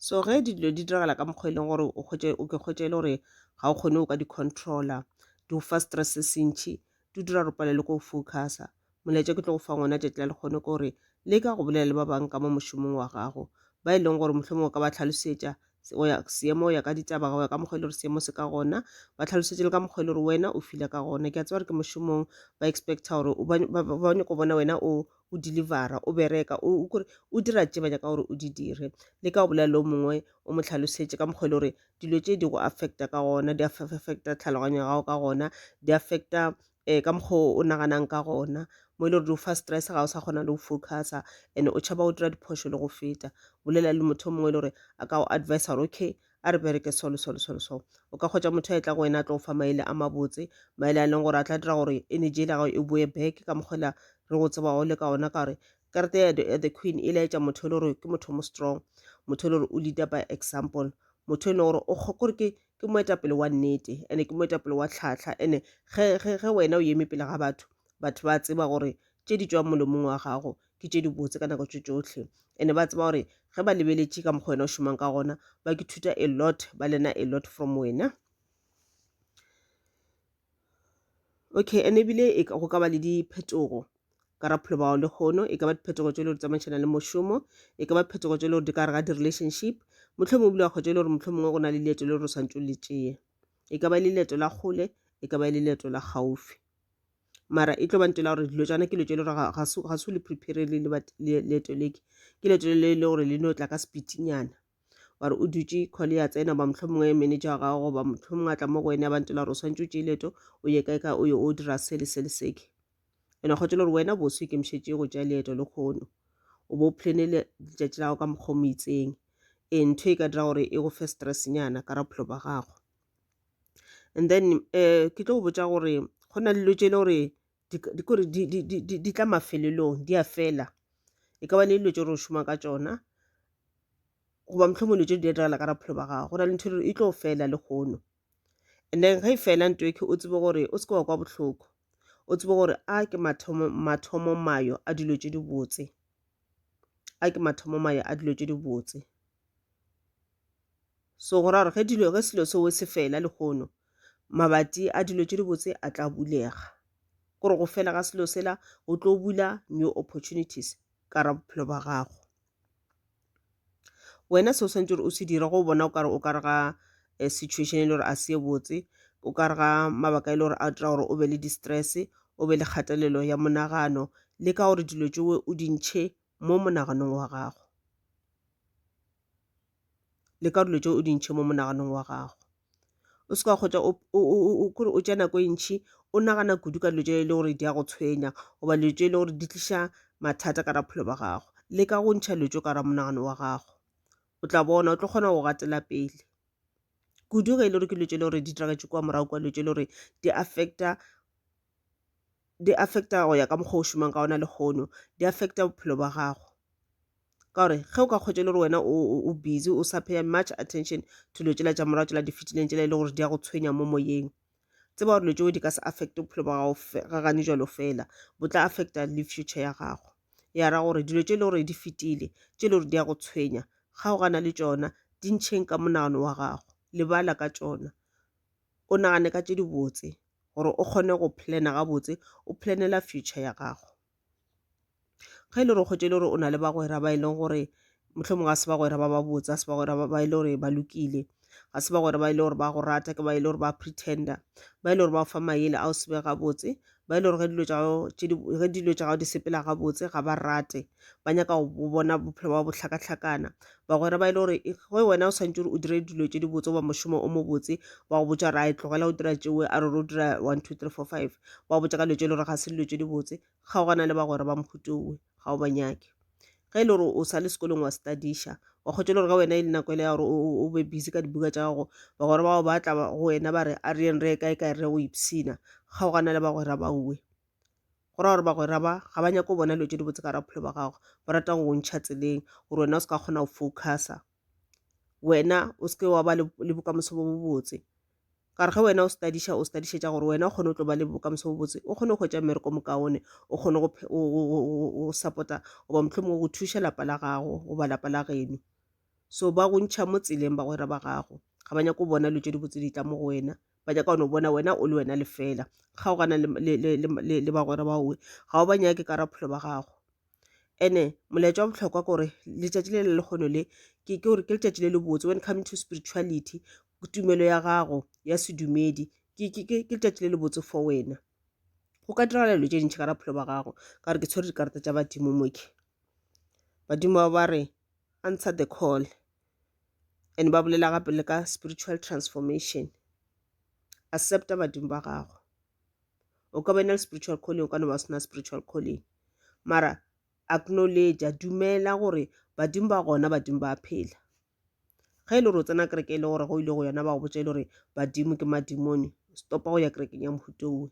so ge dilo di diragala ka mokgwa e leng gore o kgwetše o ke kgwetše e le gore ga o kgone o ka di-controller di go fa stress se sentšhi di dira gore pale le ko focusa molaetša ke tlo go fa ngwana tšatši la lekgone ke gore le ka go bolela le ba bangwe ka mo mošomong wa gago ba e leng gore mohlomong o ka ba tlhalosetša seemo o ya ka ditaba go ya ka mokgwa e le gore seemo se ka gona ba tlhalosetše le ka mokgwa e le gore wena o file ka gona ke a tseba gore ke mošomong ba expecta gore ba nyako bona wena o o delivera o bereka o kore o dira tše banya ka gore o di dire le ka go bolela le o mongwe o mo tlhalosetše ka mokgwa e le gore dilo tše di go affecta ka gona di affecta tlhaloganyo ya gago ka gona di affecta um ka mokgwa o naganang ka gona mo e le gore di o fa stress ga o sa kgona le go focusa and o tšhaba go dira diphošo le go feta bolela le motho o mongwe e le gore a ka go advice gore okay A re bereke so le so le so le so. O ka kgwetša motho a etla go wena a tlo fa maele a mabotse, maele a leng gore a tla dira gore energy e gago e boe back ka mokgwela re go tseba o le ka ona ka gore karete ya the queen e laetša motho e le gore ke motho mo strong motho e le gore o leader by example motho e leng gore o kgokore ke ke moetapele wa nnete ene ke moetapele wa tlhatlha ene ge wena o eme pele ga batho batho ba tseba gore tše di tswang molomong wa gago ke tše dibotse ka nako tše tšohle ene ba tseba gore ge ba lebeletše ka mokgwa wena o šomang ka gona ba ke thuta a lot ba lena a lot from wena okay ene ebile e go ka ba le diphetogo ka ra phelo bao lehono e ka ba diphetogo tše le gore tsamaišana le mošomo e ka ba phetogo tše le gore di ka re ga di-relationship motlho mongwe bile wa kgwetša e le gore motlho mongwe go na le leeto le gore o swantse o le tšeye e ka ba e le leeto la kgole e ka ba e le leeto la gaufi mara e tlo ba ntela gore dilo tsana ke letšo le gore ga se le prepare le leeto leke ke letšo le le gore le no tla ka sepitinyana ware o dutše call ya tsena ba motlho mongwe manager wa gago goba motlho mongwe a tla mo go wena ba ntela gore o swantse o tšee leeto o ye kae ka o ye o dira se le se le seke ene o kgotse le gore wena boso e kemišetše go tšea leeto le kgono o bo plane letšatši la gago ka mokgwa mo itseng e ntho e ka dira gore e go fe stressnyana ka raphelo ba gago and then um ke tlo go botša gore go na le dilo tše e le gore di kore di tla mafelelong di a fela e ka ba le dilo tše gore o šoma ka tšona goba mohlomong dilo tše di diragala ka bophelo ba gago go na le ntho e tlo fela le kgono and then ge e fela nto eke o tsebe gore o seke wa kwa bohloko o tsebe gore a ke mathomo mathomo mayo a dilo tše di botse a ke mathomo mayo a dilo tše di botse so go ra gore ge dilo ge selo seo se fela lehono mabati a dilo tše dibotse a tla bulega gore go fela ga selo sela o tlo bula new opportunities ka ra bophelo ba gago wena se o swantse gore o se dira go bona o kare o ka re ga eh, situation e le gore a se botse o ka re ga mabaka e le gore a dira gore o be le distress o be le kgatelelo ya monagano le ka gore dilo tšewe o dintšhe mo monaganong wa gago le ka dilo tše o di ntšhe mo monaganong wa gago o se ka kgotsa kore o tša nako e ntšhi o nagana kudu ka dilo tše e le gore di a go tshwenya goba dilo tše e le gore di tliša mathata ka raphelo ba gago le ka go ntšha dilo tše ka ra monagano wa gago o tla bona o tlo kgona go gatela pele kudu ge e le gore ke dilo tše e le gore di diragetse kwa morago kwa dilo tše e le gore di affecta di affecta go ya ka mokgwa o šomang ka ona lehono di affecta bophelo ba gago ka gore ge o ka kgwetša le gore wena o busy o sa pay much attention to dilo tsela tša morago tsela di fetileng tsela e le gore di ya go tshwenya mo moyeng tseba gore dilo tseo di ka se affecte bophelo ba gago ga gane jalo fela bo tla affecta le future ya gago ya ra gore dilo tse e le gore di fetile tse e le gore di ya go tshwenya ga o gana le tsona di ntšheng ka monagano wa gago lebala ka tsona o nagane ka tše dibotse gore o kgone go plana gabotse o planela future ya gago ge e le gore kgwetše e le gore o na le bagwera ba e leng gore mohlomong ga se bagwera ba ba botse ga se bagwera ba e le gore ba lokile ga se bagwera ba e le gore ba go rata ke ba e le gore ba pretender ba e le gore ba fa maele a o sebe gabotse ba e le gore ge dilo tša gago tše di- ge dilo tša gago di sepela gabotse ga ba rate ba nyaka go bo- bona bophelo ba bohlakahlakana bagwera ba e le gore e- ge wena o swantse gore o dire dilo tše di botse goba mošomo o mobotse ba go botša gore a e tlogela go dira tšewe a re o dira one two three four five ba go botša ka dilo tše e le gore ga se dilo tše di botse kgaogana le bagwera ba mphutiowe ga o ba nyake ge e le gore o sa le sekolong wa studiša wa kgotsa le gore ga wena e le nako ele ya gore o be busy ka dibuka tša gago ba gore bao ba tla go wena ba re a re yeng re kae kae re go ipsina kgaogana le bagwera ba uwe go ra gore bagwera ba ga ba nyako bona dilo tse di botse ka rapholo ba gago ba ratang go ntšha tseleng gore wena o se ka kgona go focusa wena o seke wa ba le bokamoso bo bobotse ka re ge wena o studiša o studišetša gore wena o kgone o tlo ba le bokamoso bo botse o kgone go hwetša mmereko mokaone o kgone go support-a goba mohlomong go thuša lapa la gago goba lapa la geno so ba go ntšha mo tseleng bagwera ba gago ga ba nyako bona dilo tše di botse di tla mo go wena ba nyaka one bona wena o le wena lefela kgaogana le bagwera baowe ga o ba nyake ka raphelo ba gago ene molaetša wa bohlokwa kore letšatši le le lekgono le ke gore ke letšatši le le botse when coming to spirituality tumelo ya gago ya sedumedi ke letšatši le le botse for wena go ka diragala dilo tše dintšhi ka raphelo ba gago ka gore ke tshwere dikarata tša badimo moke badimo ba ba re answer the call and ba bolela gape le ka spiritual transformation accepta badimo ba gago o ka ba na le spiritual calling o ka no ba sena spiritual calling mara acknowledge dumela gore badimo ba gona badimo ba phela ge e le gore o tsena kereke e le gore go ile go yona ba go botsa e le gore badimo ke madimone stopa go ya kerekeng ya mohuto owe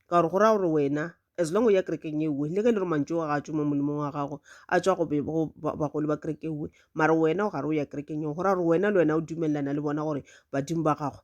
ka gore go raya gore wena as long o ya kerekeng e uwe le ge e le gore mantso wa gatso mo molemong wa gago a tswa go bagolo ba kereke uwe mara wena o gare o ya kerekeng eo go raya gore wena le wena o dumelelana le bona gore badimo ba gago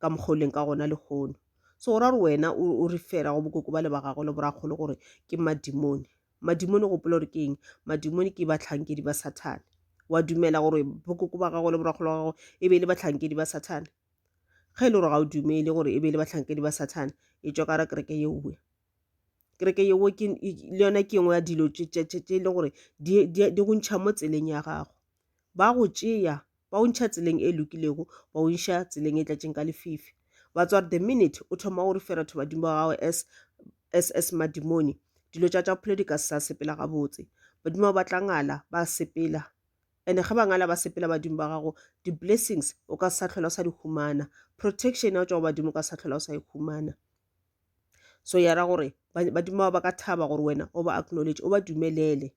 ka mokgwa o leng ka gona lehono so go ra gore wena o re fela go bokoko ba le ba gago le borakgolo gore ke madimone madimone gopola gore ke eng madimone ke batlhankedi ba sathane wa dumela gore bokoko ba gago le borakgolo wa gago e be e le batlhankedi ba sathane ge e le gore ga o dumele gore e be e le batlhankedi ba sathane e tswa ka ra kereke yeowe kereke yewo le yona ke engwe ya dilo tse e leng gore di go ntšha mo tseleng ya gago ba go tšea ba o ntšha tseleng e lokilego ba o nša tseleng e tlatšeng ka lefifi ba tsware the minute o thoma o re fera thoba dimo wa gago as as as madimoni dilo tša tša bophelo di ka se sa sepela gabotse badimo ba batla ngala ba sepela and-e ge ba ngala ba sepela badimo ba gago di-blessings o ka sa tlhola o sa di humana protection ya go tšwa go badimo o ka sa tlhola o sa e humana so ya ra gore badimo ba ka thaba gore wena o ba acknowledge o ba dumelele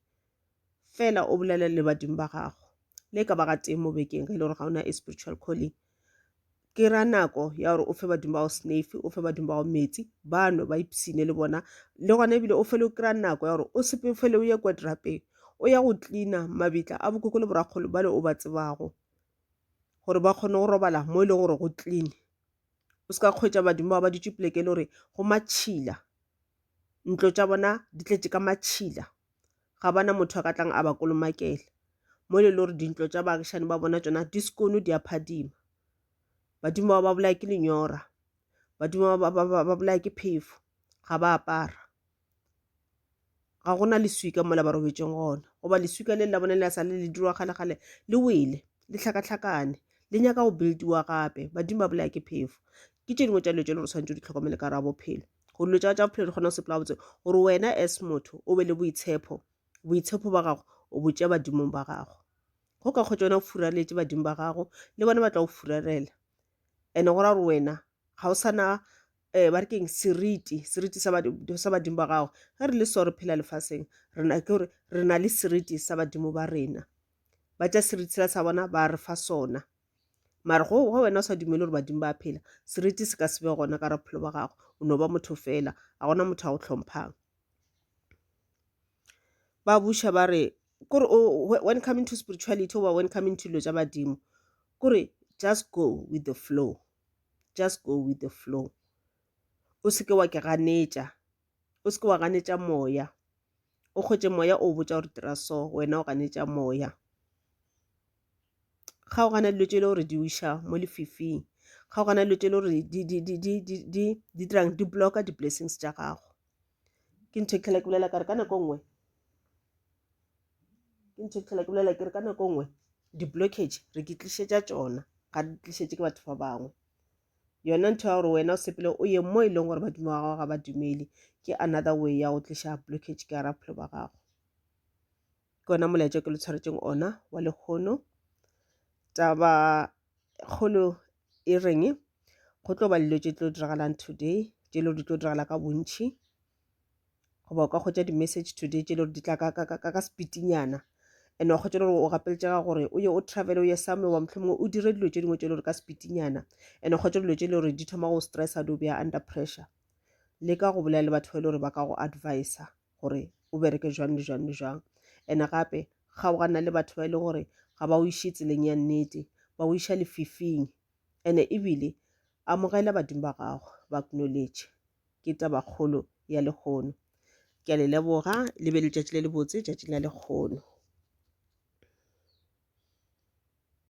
fela o bolele le badimo ba gago le ka ba ga teng mo bekeng ge e le gore ga ona e spiritual calling ke ra nako ya gore o fe badimo bao snafe o fe badimo bao metsi bano ba ipsine le bona le gona ebile o fele o kry-a nako ya gore o sepe fele o ye kwa drapeng o ya go tlina mabitla a bokoko le borakgolo bale o ba tsebago gore ba kgone go robala mo e leng gore go clean o se ka kgwetsa badimo ba ba dutse poleke e le gore go matšhila ntlo tša bona di tletše ka matšhila ga ba na motho a ka tlang a ba kolomakela mo le gore dintlo tša baagišane ba bona tsona di sekono di a phadima badimo ba ba bolaya ke lenyora badimo ba bolaya ke phefo ga ba apara ga gona leswika mola ba robetseng gona goba leswika le la bone le a sa le le dirwa kgalekgale le wele le tlhakatlhakane le nyaka go buildiwa gape badimo ba bolaya ke phefo ke tše dingwe tša dilo tše le gore tshwanetse o di tlhokomele ka rabophelo go dilo tša tša bophelo di kgona go sepela botse gore wena as motho o be le boitshepo boitshepo ba gago o botše badimong ba gago go ka kgwetsa wena o furaletše badimo ba gago le bona ba tla go furalela and-e go ra gore wena ga o sana um ba re keng seriti seriti sa badimo ba gago ge re le so re phela lefaseng rena ke gore re na le seriti sa badimo ba rena ba tša seriti sela sa bona ba re fa sona mare go ge wena o sa dumele gore badimo ba phela seriti se ka se be gona ka raphelo ba gago o no ba motho fela ga gona motho a go tlhomphang ba buša ba re kore when coming to spirituality oba when coming to dilo tša badimo kore just go with the flow just go with the flow o seke wa ke ganetša o seke wa ganetša moya o kgwetše moya o botša gore dira so wena o ganetša moya kgaogana dilo tše e le gore di uša mo lefifing kgaogana dilo tše e le gore di dirang di blocka di-blessings tša gago ke ntho e tlhela ke bolela kare ka nako nngwe ke ntho e tlhela ke bolela kere ka nako nngwe di-blockage re ke tlišetša tsona ga di tlišetše ke batho ba bangwe yona ntho ya gore wena o sepele o ye mo e leng gore badimo wa gago ga ba dumele ke another way ya go tliša blockage ka ra bophelo ba gago ke ona molaetša ke lo tshwaretseng ona wa lekgono taba kgolo e reng go tlo ba dilo tše tlo diragalang today tše lo di tlo diragala ka bontšhi goba o ka kgwetša di-message today tše le gore di tla ka sepitinyana and wa kgwetša le gore o gapeletšega gore o ye o travel o ye some wa mohlomongwe o dire dilo tše dingwe tše le gore ka sepitinyana and wa kgwetša dilo tše le gore di thoma go stressa di o beya under pressure le ka go bolela le batho ba e le gore ba ka go advisa gore o bereke jwang le jwang le jwang and gape ga o gana le batho ba e leng gore ga ba o iše tseleng ya nnete ba o iša lefifing and ebile amogela badimo ba gago ba acknowledge ke tabakgolo ya lehono. Ke a le leboga, le be letšatši le lebotse, tšatšing la lekgono.